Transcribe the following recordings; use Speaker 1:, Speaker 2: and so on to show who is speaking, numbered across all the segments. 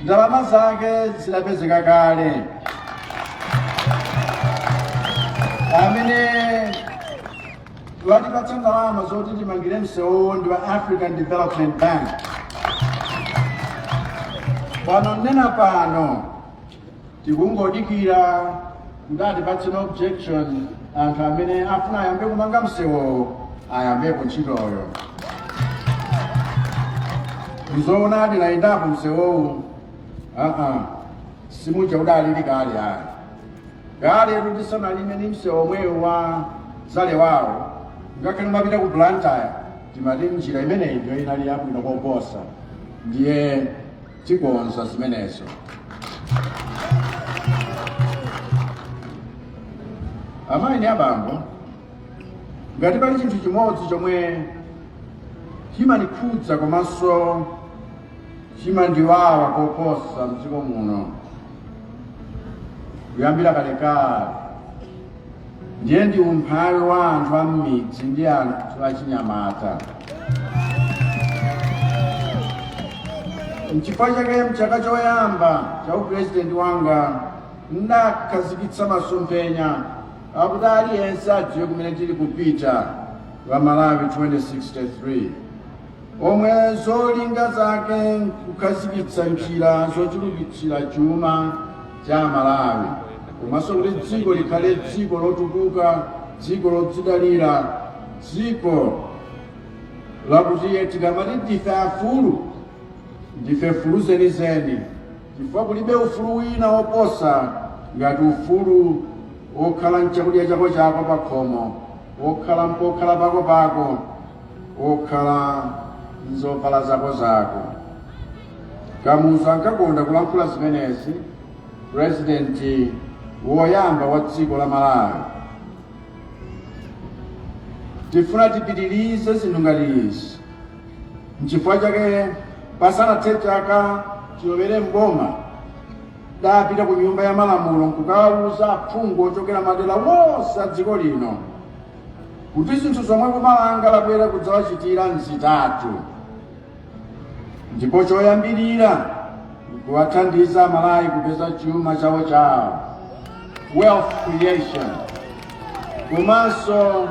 Speaker 1: ndalama zake zidapezeka kale amene watipatsa ndalama zoti timangire msewu ndi wa african development bank pano ndinena pano tikungodikira kuti atipatse no objection anthu amene afuna ayambe kumanga msewowo ayambepo ntchitoyo ndizoonadi nayendapo msewowu aa simuja udalili kale ayi kale tisanalime ni msewo omwewu wa zale wawo ngakhale timapita ku blantyre timati njira imeneyi ndiyo inali yabwino koposa ndiye tikonza zimenezo amayi ndi abambo ngati pali chinthu chimodzi chomwe chimandikhudza komanso chimandiwawa koposa mdziko muno kuyambira kalekale ndiye ndi umphawi wa anthu a m'midzi ndi anthu achinyamata nchifukwa chake mchaka choyamba cha upurezidenti wanga ndakhazikitsa masomphenya akuti aliyense adziwe kumene tili kupita wa malawi 2063 omwe zolinga zake nkukhazikitsa njira zochulukitsira chuma cha Amalawi komanso kuti dziko likhale dziko lotukuka, dziko lodzidalira, dziko lakuti tikamati ndife afulu ndi mfulu zenizeni chifukwa kulibe ufulu wina woposa ngati ufulu wokhala nchakudya chako chako pa khomo wokhala n'pokhala pako pako wokhala nzovala zako zako Kamuzu ankakonda kulankhula zimenezi pulezidenti woyamba wa dziko la Malawi. Tifuna tipitirize zinthu ngati izi. N'chifukwa chake pasanathe chaka chilowere m'boma ndapita ku nyumba ya malamulo nkukawuza aphungu ochokera madera wonse a dziko lino kuti zinthu zomwe boma langa labwera kudzawachitira nzitatu. ndipo choyambirira nkuwathandiza amalawi kupeza chuma chawo chawo wealth creation komanso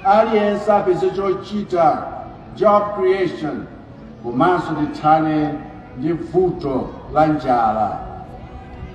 Speaker 1: aliyense apeze chochita job creation komanso tithane ndi vuto la njala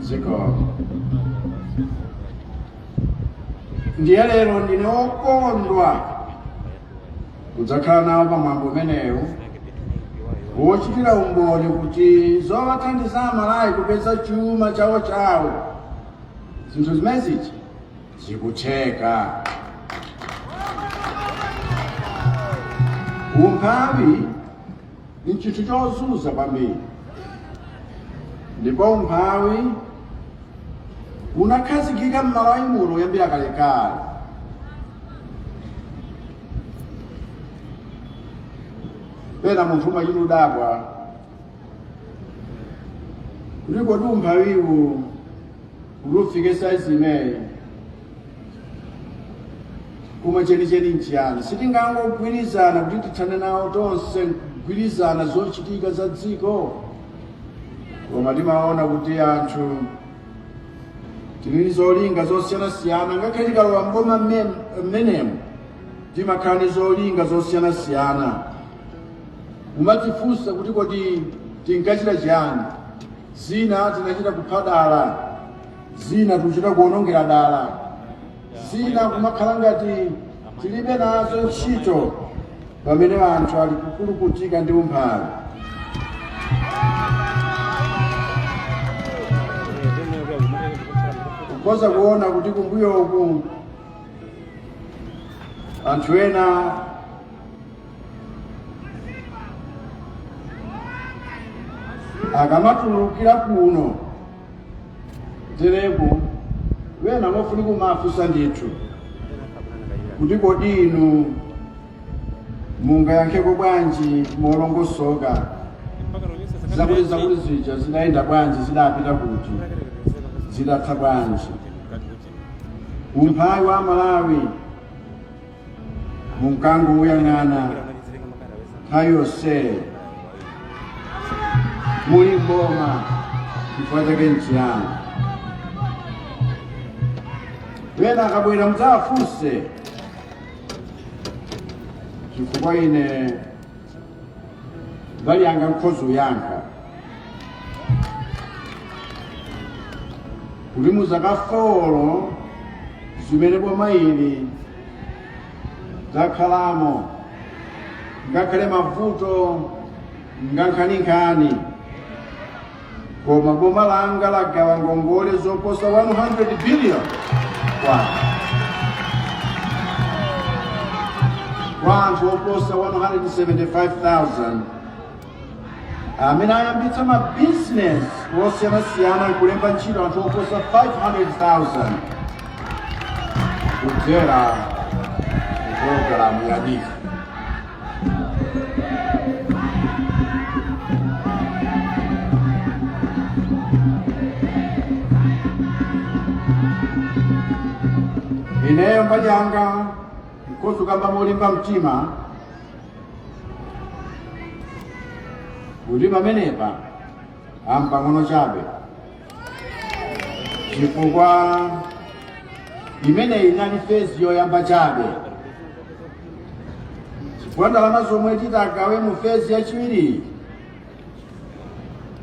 Speaker 1: ziko ndiye lero ndine okondwa kudzakhala nawo pa mwambo umenewu wochitira umboni kuti zowathandiza Amalawi kupeza chuma chawo chawo zinthu zimenezi zikutheka umphawi ndi chinthu chozunza kwambiri ndipo umphawi unakhazikika m'Malawi muno kuyambira kalekale pena munthu umachita kudabwa kuti kodi umphawiwu kuti ufike saizi imeneyi koma chenicheni nchiyani sitingangogwirizana kuti tithane nawo tonse nkugwirizana zochitika za dziko koma timaona kuti anthu tili ndi zolinga zosiyanasiyana ngakhale tikalowa mboma mmenemo timakhala ndi zolinga zosiyanasiyana kumadzifunsa kuti kodi tinkachita chiyani Zina tinachita kupha dala, zina tikuchita kuwonongera dala, zina kumakhala ngati tilibe nazo ntchito pamene anthu ali kukulukutika ndi umphawi. Mukhoza kuona kuti kumbuyo uku anthu ena akamatulukira kuno tereku ena mofunika kumawafunsa ndithu kuti kodi inu mungayankheko bwanji molongosoka zakuti zakuti zija zidayenda bwanji zidapita kuti zidatha bwanji umphawi wa Amalawi munkangouyang'ana nthawi yonseyo muli mboma chifukwa chake nchiyani ena akabwera mudzawafunse chifukwa ine mbali yanga nkhoza kuyankha kuti mu zaka folo zimene boma ili lakhalamo ngakhale mavuto ngankhaninkhani koma boma langa lagawa ngongole zoposa 100 billion kwacha kwa anthu oposa 175,000 amene ayambitsa mabizinesi osiyanasiyana nkulemba ntchito anthu oposa 500,000 kudzera mu pologalamu ya NEEF. ineyo mbali yanga nkhozo kukamba molimba mtima kuti pamenepa mpang'ono chabe chifukwa imeneyi inali fezi yoyamba chabe chifukwa ndalama zomwe titagawe mu fezi yachiwiri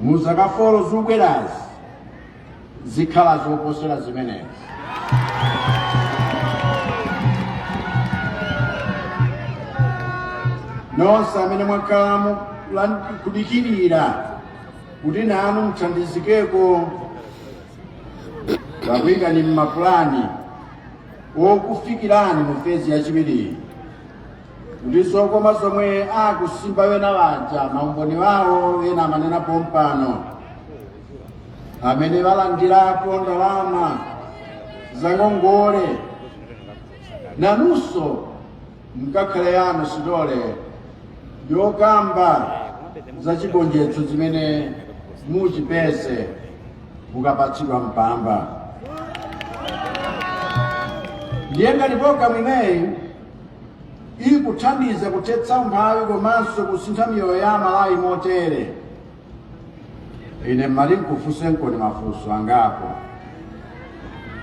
Speaker 1: mu zaka folo zikubwerazi zikhala zoposera zimenezi nonse amene mwakhala mu- lan- kudikirira kuti nanu muthandizikeko takuyikani m'mapulani okufikirani mu fezi yachiwiriyi kuti zokoma zomwe akusimba wena waja maumboni wawo wena amanena pompano amene walandirapo ndalama zangongole nanunso mkakhale yanu stole yokamba za chigonjetso chimene muchipeze mukapatsidwa mpamba ndiye ngati programu imeneyi ikuthandiza kuthetsa umphawi komanso kusintha miyoyo ya amalawi motere ine mmati nkufunsenkoni mafunso angapo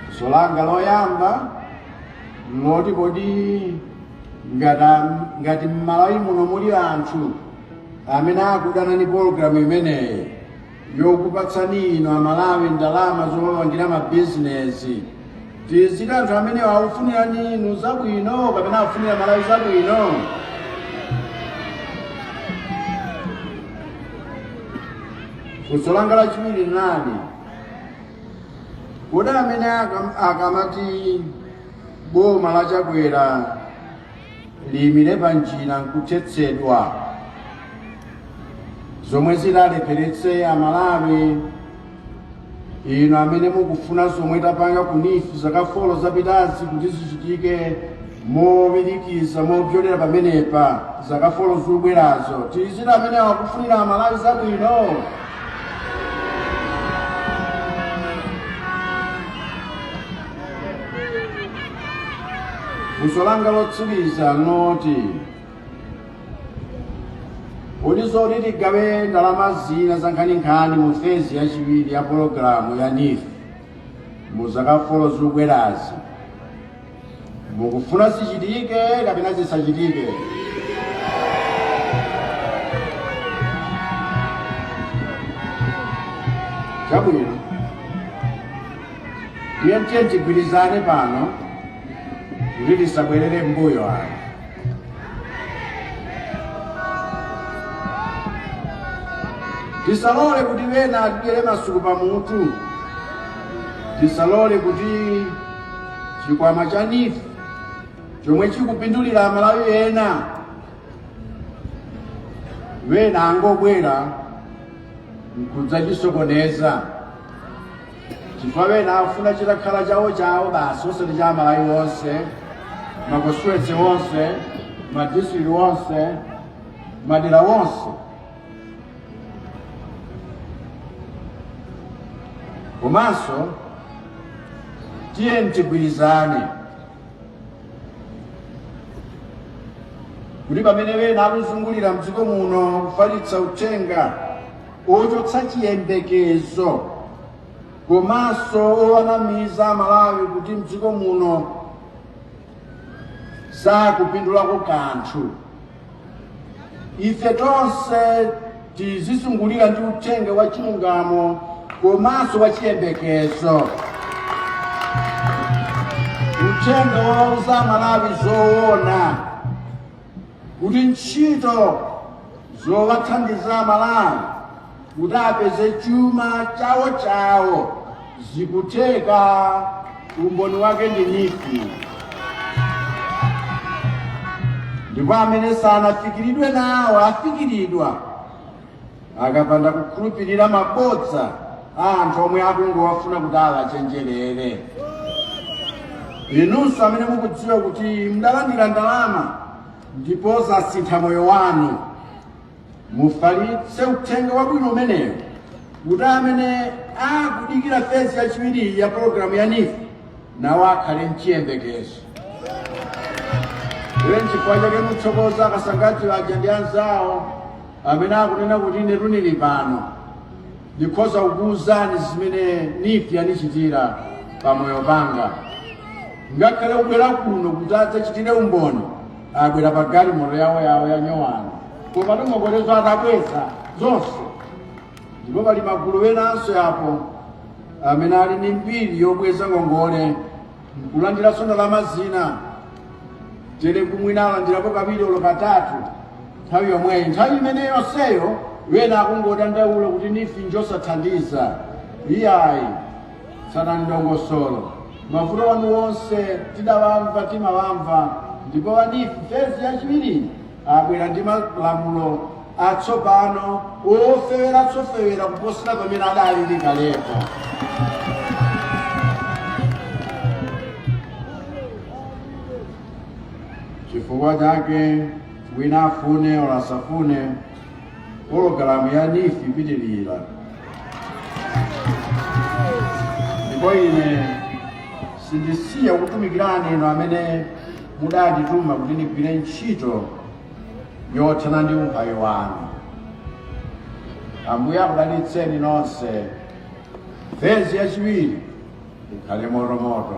Speaker 1: funso langa loyamba mloti kodi ngata ngati mmalawi muno muli anthu amene akudana ni pologalamu imeneyi yokupatsani inu amalawi ndalama zopangira mabizinesi tiziti anthu amenewo akufunirani inu zabwino kapena akufunira malawi zabwino funso langa lachiwiri nlani kodi amene akam- akamati boma la chakwera liyimire pa njira nkuthetsedwa zomwe zikalepheretse amalawi inu amene mukufuna zomwe tapanga ku NEEF zaka folo zapitazi kuti zichitike mowirikiza mopyolera pamenepa zaka folo zikubwerazo tizitcha amene akufunira amalawi zabwino funso langa lotsiriza noti Kodi zoti tigawe ndalama zina za nkhaninkhani mu fezi yachiwiri ya pologalamu ya NEEF mu zaka folo zikubwerazi mukufuna zichitike kapena zisachitike? Chabwino, tiyeni tigwirizane pano kuti tisabwerere m'mbuyo ano. tisalole kuti wena atidyere masuku pa mutu tisalole kuti chikwama cha NEEF chomwe chikupindulira amalawi ena wena angobwera nkudzachisokoneza chifukwa wena afuna chitakhala chawo chawo basi osati cha amalawi onse makonstituensi onse madistrict onse madera onse komanso tiyeni tigwirizane kuti pamene wena akuzungulira mdziko muno kufalitsa uthenga ochotsa chiyembekezo komanso owanamiza amalawi kuti mdziko muno sakupindulako kanthu ife tonse tizizungulira ndi uthenga wa chilungamo komanso wa chiyembekezo uthenga wouza amalawi zoona kuti ntchito zowathandiza Amalawi kuti apeze chuma chawo chawo zikutheka. Umboni wake ndi NEEF. Ndipo amene sanafikiridwe nawo afikiridwa. akapanda kukhulupirira mabodza a anthu omwe akungowafuna kuti awachenjerere inunso amene mukudziwa kuti mudalandira ndalama ndipo zasintha moyo wanu mufalitse uthenga wabwino umenewo kuti amene akudikira fezi yachiwiri ya pologalamu ya NEEF nawo akhale mchiyembekezo iye nchifukwa chake ndithokoza a Kasangati aja ndi anzawo amene akunena kuti inetu ndili pano ndikhoza kukuwuzani zimene NEEF yanichitira pamoyo wanga ngakhale kubwera kuno kuti adzachitire umboni abwera pa galimoto yawo yawo ya nyowani koma ndi ngongolezo atabweza zonse ndipo pali magulu enanso apo amene ali ndi mbiri yobweza ngongole nkulandiranso ndalama zina tere mwina alandirapo kawiri olo katatu nthawi yomweyi nthawi imene yonseyo wena akungodandaula kuti NEEF njosathandiza iyayi tsatani dongosolo mavuto anu onse tidawamva timawamva ndipo a NEEF fezi yachiwiri abwera ndi malamulo atsopano ofeweratu ofewera kuposera pamene adalili kalepa chifukwa chake wina afune olo asafune pologalamu ya NEEF ipitirira ndipo ine sindisiya kutumikirani inu amene mudandituma kuti ndigwire ntchito yothana ndi umphawi wanu ambuye akudalitseni nonse fezi yachiwiri ikhale motomoto